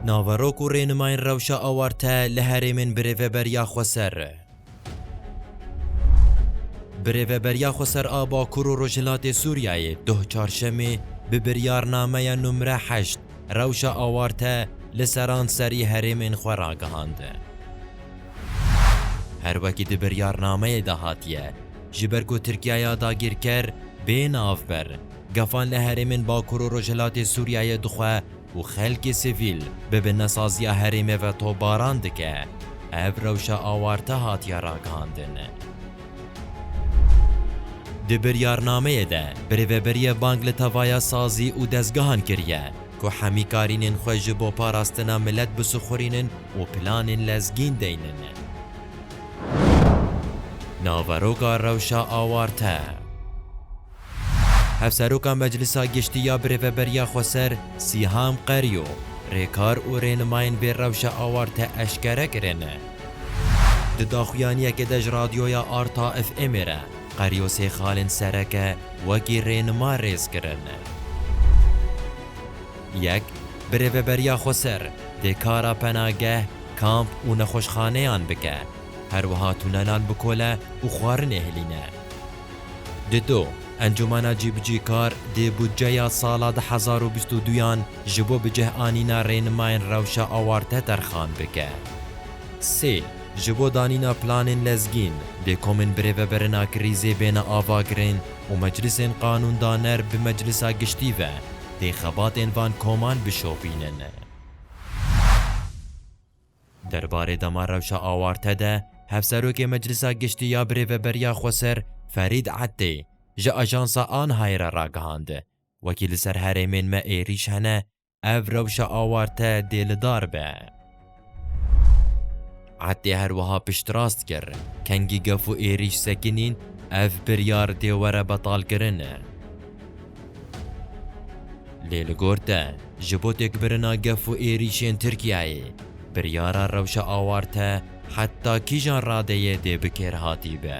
Naverok û rênimayên rewşa awarte li herêmên Birêveberiya Xweser. Birêveberiya Xweser a Bakur û Rojhilatê Sûriyeyê doh Çarşemê bi biryarnameya numre heşt rewşa awarte li seranserî herêmên xwe ragihand. Her wekî di biryarnameyê de hatiye, ji ber ku Tirkiyaya dagîrker bê navber Gefan li herêmên Bakur û Rojhilatê Sûriyeyê dixwe ku xelkê sivîl bi bi nesaziya herêmê ve topbaran dike. Ev rewşa awarte hatiye ragihandin. Di biryarnameyê de bi rêveberiyê bang li tevaya sazî û dezgehan kiriye ku hemîkarînên xwe ji bo parastina milet bisixurînin û planên lezgîn deynin. Naveroka rewşa awarte. Hevseroka Meclisa Giştî ya bi Rêveberiya Xweser Sîhan Qeryo rêkar û rênimayên vê rewşa awarte eşkere kirin. Di daxuyaniyekê de ji Radyoya Arta FM'ê re Qeryo sê xalên sereke wekî rênima rêz kirin. Yek, bi Rêveberiya Xweser dê kara penageh, kamp û nexweşxaneyan bike. Her wiha tunelan bikole û xwarinê hilîne. Dido, Encûmena Cîbicîkar dê budceya sala du hezar û bîst û du yan ji bo bicehanîna rênimayên rewşa awarte terxan bike. Sê, Ji bo danîna planên lezgîn, dê komên birêvebirina krîzê bêne avakirin û meclisên qanûndaner bi Meclisa Giştî ve dê xebatên van koman bişopînin. Derbarê dema rewşa awarte de Hevserokê Meclisa Giştî ya Birêveberiya Xweser Ferîd Etdê ji ajansa ANHA'yê re ragihand, Wekî li ser herêmên me êrîş hene, ev rewşa awarte dê li dar be. Etdê her wiha piştrast kir, Kengî gef û êrîş sekinîn, ev biryar dê were betalkirin. Lê li gor te, ji bo têkbirina gef û êrîşên Tirkiyeyê, biryara rewşa awarte heta kîjan radeyê dê bi kêr hatî be?